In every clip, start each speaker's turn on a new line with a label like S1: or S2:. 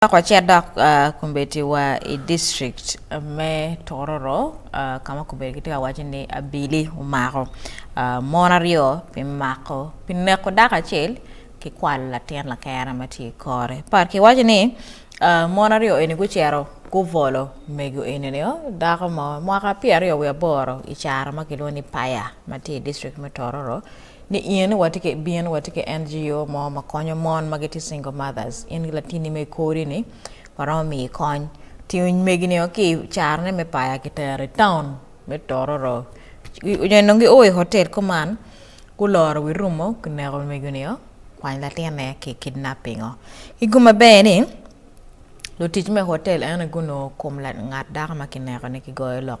S1: Wek wacit dok kombeddi wa i district me Tororo ka ma kombeddi gitye ka waco ni abili omako mon aryo pi mako pi neko dako acel ki kwalo latin lakere ma tye i kore but ki waco ni mon aryo eni gucito gubolo mego eni nio dako mo mwaka pyeraryo wiye aboro i caro ma kilwongo ni paya ma tye i district me Tororo Ni in watye ki bin watye ki NGO mo ma konyo mon ma gitye single mothers, in ki latini ma ikori ni waromo miyi kony. Tingo megi ni o ki i caro ne me paya kitero i town me Tororo. Onyo i nongo gi o i hotel kuman guloro wi rumo gineko mego ni o kwany latin ne ki kidnapping o. Ki gu maber ni lutic me hotel eno gunongo kom ngat dako ma kineko ni kigoyo lok.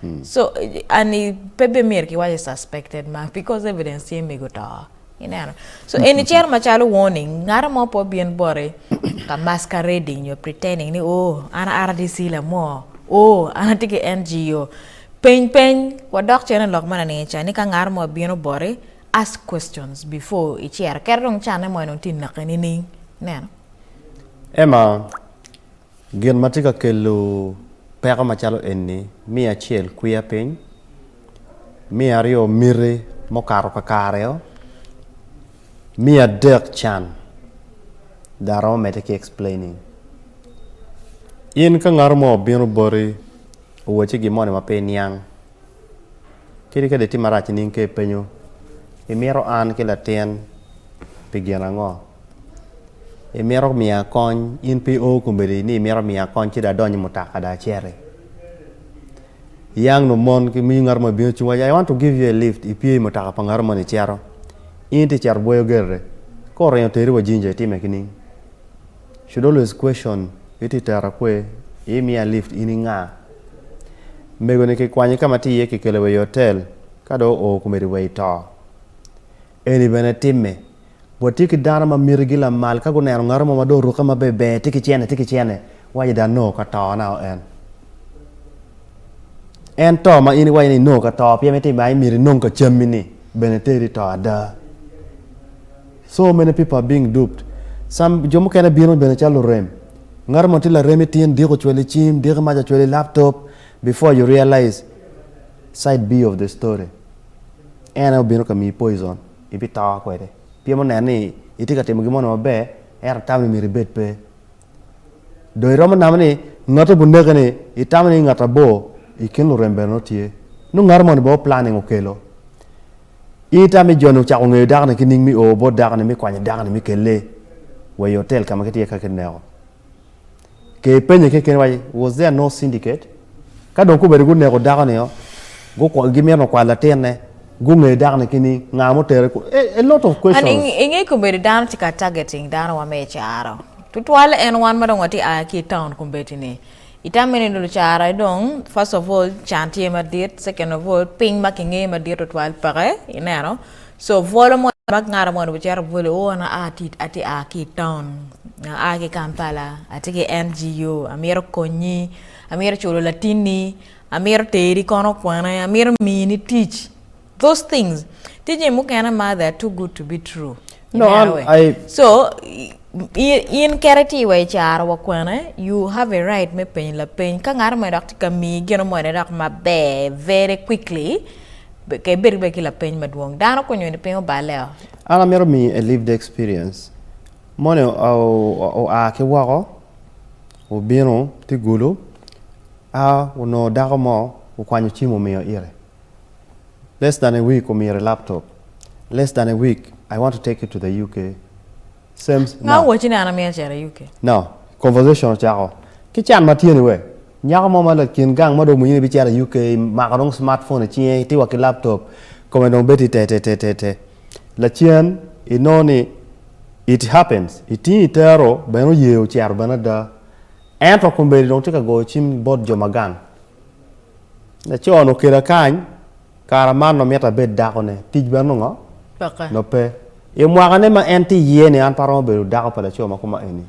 S1: Hmm. So and pe be myero kiwace suspected ma because evidence tye mego to. Ineno. So in eni cero macalo warning ngaro mo po bin bore ka masquerading nyo pretending ni oh an RDC la mo. Oh an atye ki NGO. Peny peny wadok cene lok mana ni cha ni ka ngaro mo bino bore ask questions before i cero. Kero dong chane mo eno ti nake ni ning. Ineno. Emma Gin ma tye ka kelo peko macalo eni, me acel kwiya piny, me aryo miti mukato kakario, me adek can dong aromo mede ki explaining. In ka ngato mo obino boti owacci gin moni ma pe iniang kadi ka dong itye marac nining ka ipenyo imito an ki latin pi gin ango Imito miya kony, in pe i o kombeddi ni imito miya kony ci dong adony i mutoka dong aciti. Iyang nongo mon ki ngat mo ibino cung iwaci I want to give you a lift ipye i mutoka pa ngat moni icito. In tye icito bwoyo gerre ka oringo teri wa Jinja itime kining? Should always question iti itera kwe? Imiya lift in inga? Mego ni kikwanyi ka ma itye iye kikelo wa i hotel ka dong oo kombeddi wa ito. Eni bene timme. Watye ki dano ma mitigi lamal ka guneno ngat mo ma dong orukke maberber, tye ki cente, tye ki cente, waco ni dong anongo ka to nao en. En to ma in iwaco ni inongo ka to pien mito ma imito inong ka cammi-ni bene teri to ada. So many people are being duped. Some, jo mukene bino bene calo lurem. Ngat mo tye larem itin diko cwel i cim, diko maca cwel i laptop before you realize side B of the story. en aye obino ka miyi poison, ibito kwede. Pien oneno ni itye ka timo gin mono maber, ento tammi myero ibed pe. Dong iromo namo ni ngati obin neke ni itamo ni ngat abor i kin lurembeni nongo tye. Nongo ngati moni bene planning okelo. In itamo ni joni ocako ngeyo dako-ni ki nying mi o bot dako-ni mi kwanyo dako-ni mi kelle wa i hotel ka ma kitye ka kineko. Ke penye keken waci was there no syndicate? Ka dong gubedo guneko dako ni o, gimito me kwalo latin ne, gunge dako ni kining, nga ma otere kunu, a, a lot of questions. I nge kobedo dano tye ka targeting dano wa me icara, tutwale en wan ma dong watye ka aa ki i town kombeddi ni, i tame ni lucara dong first of all can tye madit, second of all piny ma ki nge madit tutwal peke, ineno. So bwolo moni mak ngara moni wacito bwolo o an atye a ki i town a ki Kampala atye ki NGO amito konyi amito culo latinni amito teri kono kwane amito mini tic those things tye jami mukene ma they are too good to be true no an I so In keri tye wa icaro wa kwene, you have a right me penyo lapeny. Ka ngato mogo dok tye ka miyi gino mogo ne dok maber very quickly, ke ibed bene ki lapeny madwong. Dano kony eni piny oballe o. An amito miyo a lived experience. Moni oa ki woko, obino tye gulu, a onongo dako mo okwanyo cim omiyo ite. Less than a week omyero i laptop. Less than a week I want to take you to the UK Same Nga now owaci ni an amyero acito i UK? Now conversation ocako ki can ma tye ni wek nyako mo ma lakin gang ma dong omwinyo ni bicito i UK imako dong smart phone i cinge iti wa ki laptop kome dong bedo te te te te te lacen inongo ni it happens itingo itero bene oye ocito bene ada ento kombeddi dong tye ka goyo cim bot jo ma gang. Laco-nu okela kany, kara man nongo mito abed dakone. Tic bene nongo nongo pe. I mwakane ma en tye iye-ni, an pe aromo bedo dako pa laco ma koma eni.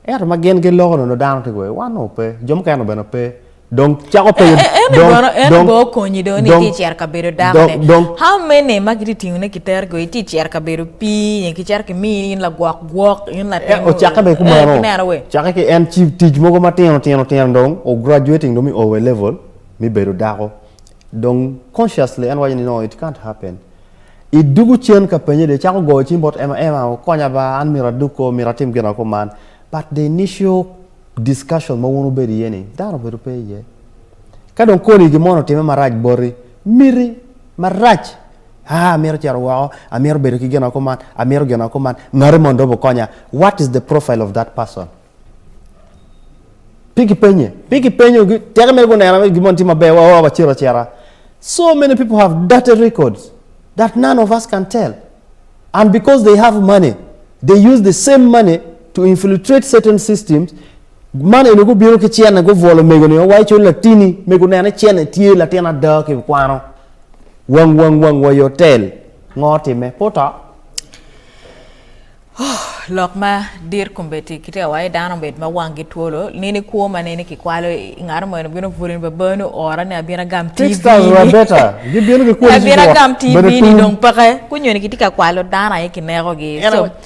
S1: Ento ma gin giloko nongo dano tye kwede, wan nongo pe, jo mukene-nu bene pe. Dong cako penyo, dong, dong. En ni kono, en ni bene okonyi dong ni itye ka cito ka bedo dakone. How many ma kitye ka tingone ki teri kwede, itye ka cito ka bedo pii nyo kicito kimiyi in lagwok. Gwok in latin eh, ocakke bene kumeno. Eh, cakke ki en ci tic mogo matino tino tino dong o graduating dong mi owe level mi bedo dako. Dong consciously en waco ni no it can't happen. I dugu cen ka penye de cako goyo cim bot Emma Emma okonya ba an mira adug ko mira atim gina ko man. But the initial discussion ma wun ubedo iye ni dano bedo pe iye. Ka dong koni gin mo otime marac boti miti marac Haa, amito cito woko, amito bedo ki gin woko man, amito gin woko man. Ngati moni dong okonya. What is the profile of that person? Pe gipenye, pe gipenyo, teke mere guneno gin moni tye maber, oh, wacito acita. So many people have dirty records that none of us can tell. And because they have money, they use the same money to infiltrate certain systems man eni gubino ki cene gubwolo mego ni wa iculo latini mego nene cene tye latin ada ki kwano Wang wang wang wa i otel. Ngo time? Pe oto. Oh, lok ma dit kombeddi ki tewa i dano bed ma wangi twolo nini kwo ma nini kikwalo i ngaro mo eno bino buli ni babani oora ni abina gam tv ni rabeta gibino ki kwoni abina gam tv ni dong peke kunyo ni kitye ka kwalo dano aye kineko gi so